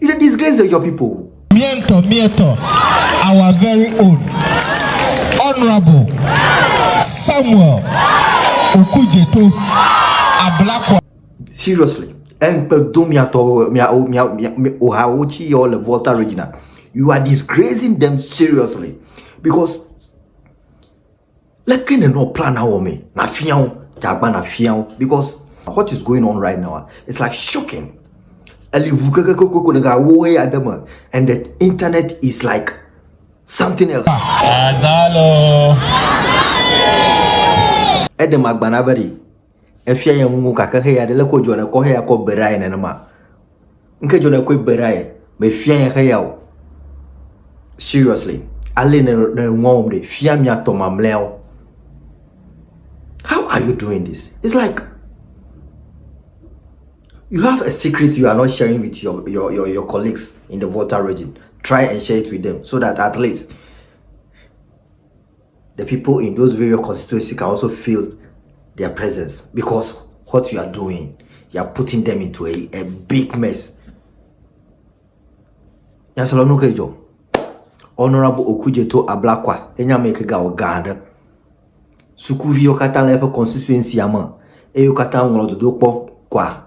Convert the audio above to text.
You dey disgrace your, your people. Mietɔ, mietɔ, our very own Honorable Samuel Okujeto Ablakwa. Seriously, enkpe do miatɔwo, miawo, miawo, miawo, ohawo tsi yɔ le Volta Regina. You are disgracing them seriously because Leke nènɔ plana wɔmee nàfia wo? Dze agbagba nàfia wo because what is going on right now ah, it's like shocking. Eli ŋu kokokoko ɖeka wo ɣeya de me and the internet is like something else. Azalo. Eɖem agbana be ɖi. efia ye ŋu gake xeyi aɖe leke wodzɔ ne kɔ xeya kɔ be ɖa ye nenema. Ŋke dzɔ ne kɔe be ɖa ye mefia ye xeya o. Seriously, ale ne ne ŋua wɔm ɖe fia miatɔ mamlɛawo. How are you doing this? It's like you have a secret you are not sharing with your, your, your, your colleagues in the Volta region. Try and share it with them so that at least the people in those various constituency can also feel their presence because what you are doing, you are putting them into a, a big mess. Nyasalonu ke dzɔ. Honorable Okujeto Ablakwa, enye ame ke ga ɔgã aɖe. Sukuviwo katã le eƒe constituency me eye wo katã ŋlɔ dodo kpɔ kwa.